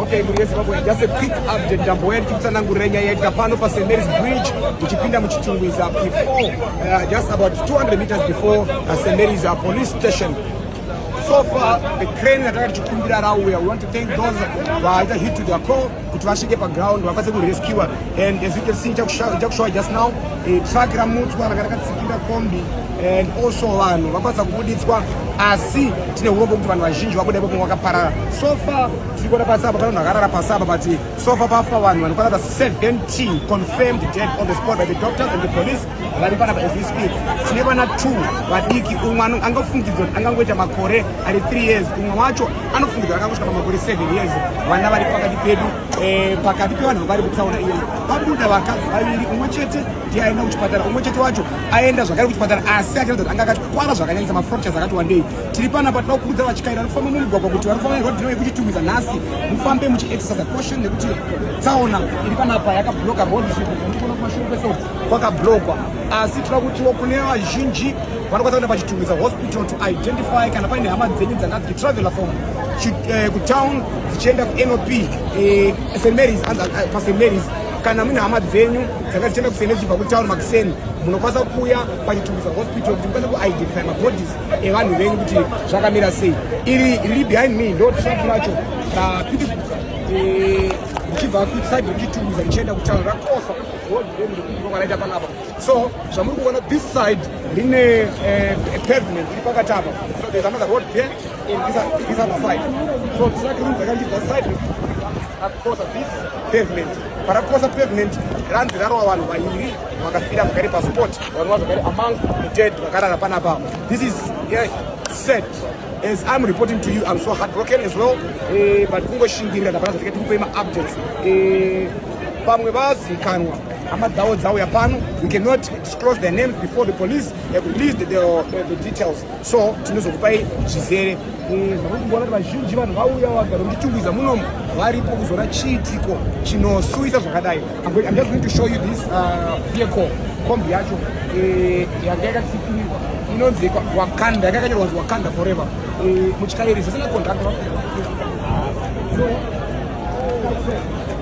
Okay, mhuri yeZimbabwe, just a quick update. Ndambo yedu tikutsanangurira nyaya yaitika pano pa St Mary's Bridge tichipinda muchitungwiza before uh, just about 200 meters before uh, St Mary's uh, police station so far the crane that I had to Kumbira Rauya. We want to thank those who are hit to the call. kuti vasvike paground vakwanise kurescua and as you can see chakushowa just now eh, truck ramutswa ranga rakatsikira kombi and also vanhu vakwanisa kubuditswa asi tine urombo kuti vanhu vazhinji vabuda ipapo vakaparara so far tiri kuona pasi apa pane vanhu vakarara pasi apa but so far pafa vanhu vanokwana ta 17 confirmed dead on the spot by the doctors and the police vari panapa as we speak tine vana two vadiki umwe angafungidzwa angangoita makore ari 3 years umwe wacho anofungidzira akangosvika pamakore 7 years vana vari pakati pedu eh, pakati pevanhu vari kutsaona iyo vabuda vakadzi vaviri umwe chete ndiye aenda kuchipatara umwe chete wacho aenda zvakare kuchipatara asi achiratidza kuti anga akatikwara zvakanyanyisa mafractures akati wandei tiri pana pati vakuudza vachikaira vari kufamba mumugwagwa kuti vari kufamba nerodhino yekuchitumidza nhasi mufambe muchiexercise caution nekuti tsaona iri panapa yakabloka road zvekuti kuno kumashure kweso kwakablokwa asi tira kutiwo kune vazhinji vanokwanisa kuenda pachitungwiza hospital to identify kana paine hama dzenyu dzanga dzichitravelha from eh, kutown dzichienda kunop eh, st marys eh, past marys kana mune hama dzenyu dzanga dzichienda kusene dzichibva kutaura makuseni munokwanisa kuuya pachitungisa hospital kuti mukwanisa kuidentify mabodies evanhu venyu kuti zvakamira sei iri riri behind me ndo trump racho rapiti richibva eh, kuside rechitungisa richienda kutaura rakosa road remrikuti kwaraita panapa So zvamuri kuona this side rine eh, pavement iri pakati apa so there's another road there and this, this other side so truck room dzakandibva side rakukosa this pavement parakukosa pavement ranzi rarova vanhu vairi vakafira vakari pasport vanova zvakari among the dead vakarara panapa this is yeah, set as I'm reporting to you, I'm so heartbroken as well. Eh, but kungoshingirira ndapana zvatike tikupei ma updates. Eh, pamwe vazikanwa hama dzavo dzauya pano we cannot disclose their names before the police have released the, the, the, the details so tinozokupai zvizere zvakukuona kuti vazhinji vanhu vauya vagara muchitungwiza munomu varipo kuzoona chiitiko chinosuwisa zvakadai i'm just going to show you this uh, vehicle kombi yacho eh, yanga yakatsikirirwa inonzi wakanda yanga yakanyorwa kuti wakanda forever eh, muchikairi zvisina contract so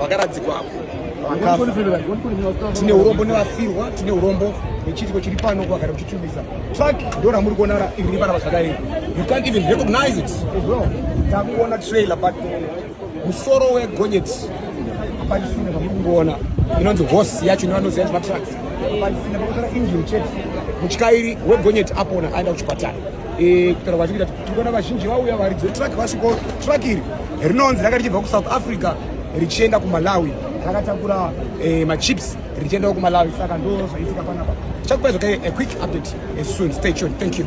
vakaradzikwa apo vakafa tine urombo nevafirwa tine urombo nechiitiko chiri pano kwagara kuchitubisa truck ndo ramuri kuona iri panapa zvakadai you can't even recognize it as well takuona trailer but musoro wegonyeti apatisine pamuri kungoona inonzi horse yacho nevanoziva nzima trucks apatisine pakuzara engine chete mutyairi wegonyeti apona aenda kuchipatara Eh, kutaura kwacho kuita tikuona vazhinji vauya varidzi vetruck vasviko truck iri rinonzi raka richibva kusouth africa richienda kumalawi rakatakura eh, machips richiendawo kumalawi saka ndo zvaitika panapa tichakupa zvoke a quick update eh, soon stay tuned thank you